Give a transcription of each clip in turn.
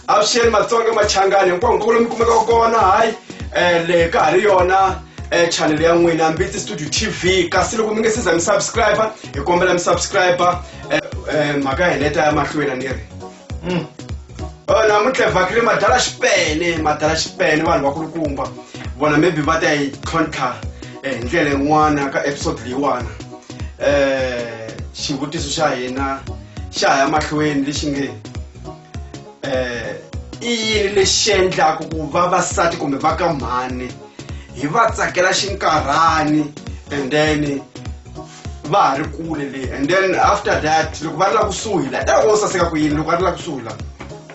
avuxeni matsonga machangani hinkwaku nkovo lomi kumekaka kona hayi um le ka ha ri yona um chanele ya n'wina mbitsi studio t v kasi loko mi nge siza mi subscribe hi kombela mi subscribe um mhaka hi leta ya mahlweni a ni ri Mm. Oh, namuntlha hi vhakile madala xipene madala xipene vanhu vakulukumba vona maybe va ta yi tlhontlha eh, hi ndlela yin'wana ka episode leyiwana um xivutiso xa hina xa ha ya mahlweni lexi nge um i yini lexi endlaku ku vavasati kumbe va ka mhani hi va tsakela xinkarhani and then va ha ri kule le and then after that loko va ri la kusuhi la ta wo saseka ku yini loko va ri la kusuhi la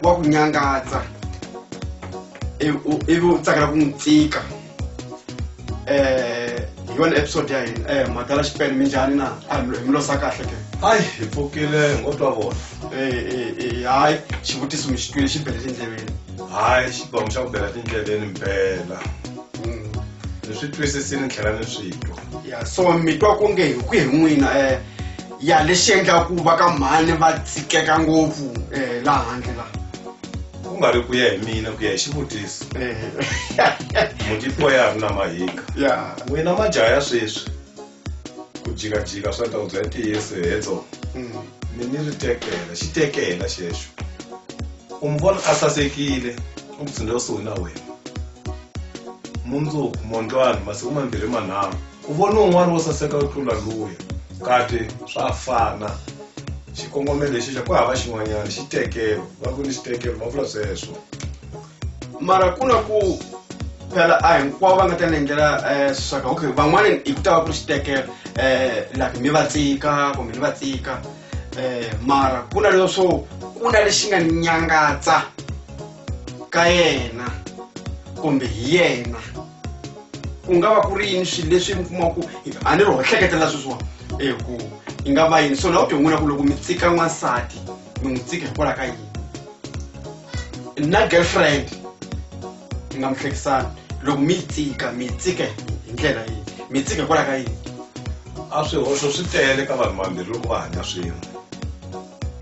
wa ku nyangatsa ivi u tsakela ku n'wi tsika um hi yona episode ya hina um mhaka la xipele mi njhani na a hi mi losa kahle ke hayi hi pfukile ngo twa vona um hayi xivutiso mi xi twile xi bele tindleveni hayi xibamu xa ku bela tindleveni mpela ni swi twisisile ni tlhela ni swi twa ya so mi twa ku nge hi ku hi n'wina um ya lexi endlaka ku va ka mhani va tsikeka ngopfu um laha handle laha ku nga ri ku ya hi mina ku ya hi xivutiso mutipo ya ri na mahika ya n'wina majaha ya sweswi ku jikajika swa ndhawu bya ntiyiso hedzo mm. mi ni ri tekela xitekela xexo u mi vona a sasekile u ndzi tsundzuka kusuhi na wena mundzuku mondlwana masiku mambirhi manharhu u vone un'wana wo saseka u tlula luya kati swa fana xikongomelo lexi xa ku hava xin'wanyana xitekelo va ku ni xitekelo va vula sweswo mara ku na ku phela a hinkwavo va nga ta nengela um eh, swaka okay van'wana hi ku ta va ku ri xitekelo um eh, like mi va tsika kumbe ni va tsika eh mara ku na leswo ku na lexi nga ni nyangatsa ka yena kumbe hi yena ku nga va ku ri yini swilo leswi mi kuma ku a ni ri ho hleketela sweswiwani e ku yi nga va yini so na u ti n'wina ku loko mi tsika n'wansati mi n'wi tsika hikwalaho ka yini na girlfriend mi nga mi hlekisani loko mi yi tsika mi yi tsike hi ndlela yihi mi yi tsike hikwalaho ka yini a swihoxo swi tele ka vanhu vambirhi loko va hanya swin'we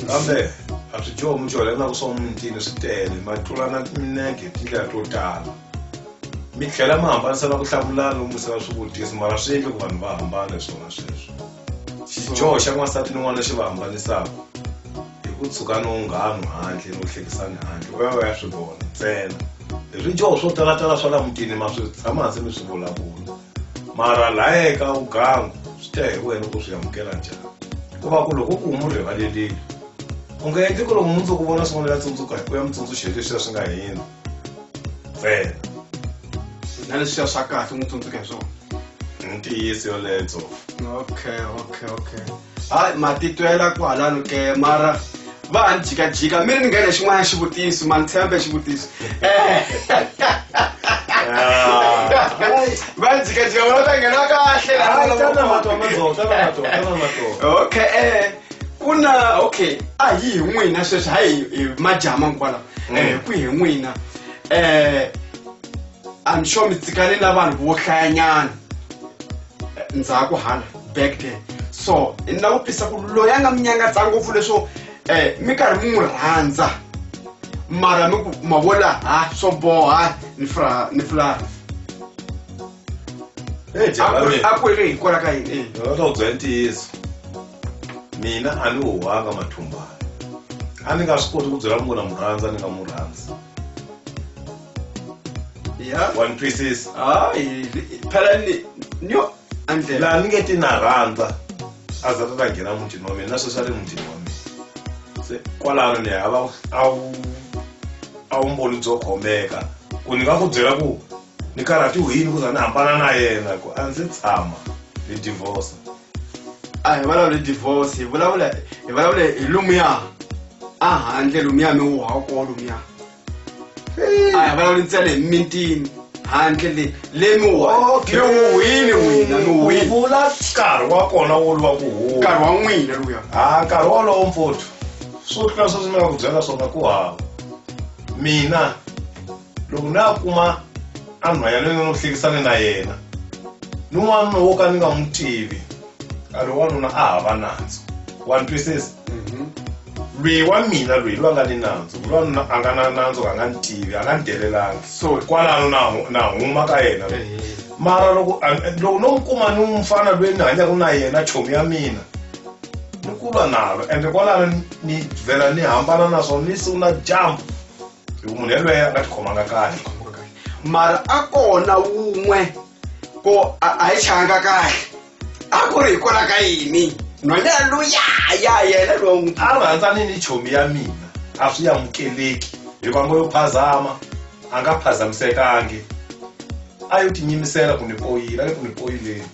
kambe a swi dyoho mudyuhari na ku swa mutini swi tele ma tlulana minege hi tindlela to tala mi tlhela mi hambanisa na ku hlamulana lomu se va swivutiso mara swi endle ku vanhu va hambana hi swona sweswo xidyoho xa n'wansati ni n'wana xi va hambanisaka hi ku tshuka no nghanu handle no hlekisani handle va ya va ya swi vona ntsena hi swidyoho swo talatala swa la mutini ma swi tshama hansi mi swi vulavula mara laha eka ugangu swi ta hi wena ku swi amukela njhani ku va ku loko ku mu rivalelile u nga endli ku loko mundzuku vona swin'wana ya tsundzuka hi ku ya mi tsundzuxeni leswiya swi nga hina fela na leswi ya swa kahle n'wi tsundzuka hi swona ntiyiso yoletso okay okay okay hayi matitwela kwalano ke mara va ha ni jikajika mi ri ni nghene xin'wana xivutiso ma ni tshembe xivutiso va ni jikajika vona ta nghena kahle okay eh ku na okay a hi hi n'wina sweswi hayi hi majama kwala um ku hi n'wina um i'm sure mi tsikane na vanhu vo hlayanyana ndzhaku hala back there so ni la ku twisa ku loyi a nga mi nyangatsa ngopfu leswo um mi karhi mi n'wi rhandza mara mi ku ma vola ha swo boha ni fra ni fulani Hey, a ku- a ku ri hikwalaho ka yini eyi Ndzi nga ta ku byela ntiyiso mina a ni huhanga mathumbana a ni nga swi koti ku byela munhu na mu rhandza ni nga mu rhandzi ya wa ni twisisa hayi phela ni nyo andlela laha ni nge ti na rhandza a za ta ta nghena mutini wa mina na sweswi a ri mutini wa mina se kwalano ni hava a wu a wu mboli byo khomeka ku ni nga ku byela ku ni karhatiwe yini ku za ni hambana na yena ku a ndzi tshama hi divorce a hi vulavula hi divorce hi vulavula hi vulavula hi lomuya a handle lomuya mi wu hawukoo lomuya a hi vulavuli ntsena hi mintini handle le le mi wu Okay. mi wu wini n'wina mi wu wini vula nkarhi wa kona wo lwa ku huma nkarhi wa n'wina luya ha nkarhi wolowo mpfuthu swo tlula sweswi ni nga ku byela swona ku hava mina loko na a kuma a nhwanya loyi n'wi hlekisane na yena ni n'wanuna wo ka ni nga n'wi tivi a ri wanuna a hava nandzu wa ni twisisa mhm. lweyi wa mina lweyi lwa nga ni nandzu lwanuna a nga na nandzu ka nga ni tivi a nga ni delelangi so kwalano na na huma ka yena mara loko loko no n'wi kuma ni mufana lweyi ni hanyaka na yena chomi ya mina ni kulwa nalo ende kwalano ni vhela ni hambana naswona ni siku na dyambu hi ku munhu yelweyo a nga tikhomanga kahle mara a kona wun'we ko a a yi changa kahle a ku ri hi kona ka yini nhwana luya ya yena lowa n'wi a rhandzani ni chomi ya mina a swi amukeleki hikuva ngo yo phazama a nga phazamisekangi a yo tinyimisela ku ni poyila a yo ku ni poyileni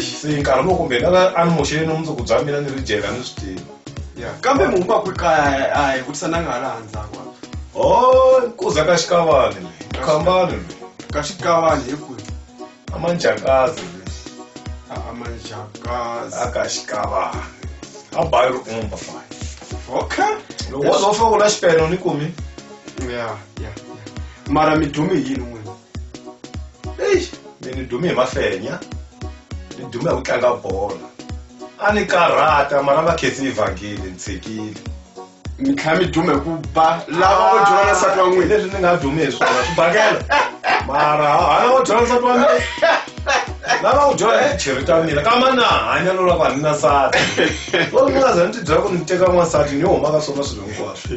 se nkarhi lowu kumbe lava a ni moxele ni mundzuku bya mina ni ri dyeka ni swi tiva ya kambe munhu va kwi kaya a hi vutisa na nga hala handzhaku o oh, kuza ka xikavani le khambani le ka xikavani hi kwihi a manjakazi le a a manjakazi a ka xikavani a bayi ri umba fine okay loko wo zo fika u la xipeno ni kumi ya ya mara mi dumi yini n'wini eish mi ni dume hi mafenya ni dume hi ku tlanga bolo a ni karhata mara va khensi yi vhangile ni tshikile mi tlhela mi dume ku ba lava vo dyela n'wansati wa n'wina leswi ni nga dumi hi swona swi bakela mara hana wo dyela nsati wa mina lava ku dyela hi cheri ta mina kama na hanya lolako a ni na sati o ni nga za ni ti byela ku ni teka n'wansati ni yo huma ka swona swilo hinkwaswo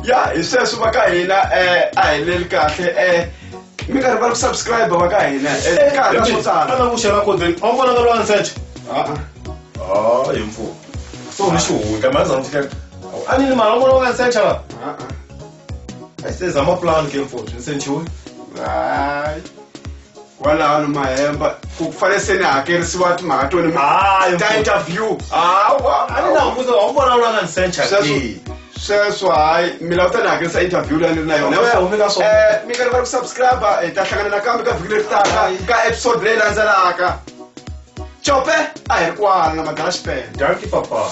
ya hi sweswo va ka hina um a heleli kahle um mi karhi va ku subscribe va ka hina um ka ha ri na swo tala ana ku xela kodeni a wu vonanga lowa nsete Ah-ah. hayi mfumo so u ni xihundla mali zama fikela a ni ni mali a wu vona wanga nsete la Ah-ah. se zama plan ke mfowethu ni sentiwe Hayi. kwalano mahemba ku fanele se ni hakerisiwa timhaka to ni Hayi, ta mfo- interview hawa a ni na mbuzo wa vona u langa ni sencha Sweswo- ke sweswo hayi mina u ta ni hakerisa interview leyi ni ri na yona Home- home ka swona. Eh, mi nga rivali ku subscribe hi ta hlangana nakambe ka vhiki leri taka ka episode leyi landzelaka cope a hi ri kwala na madala xipele danki papa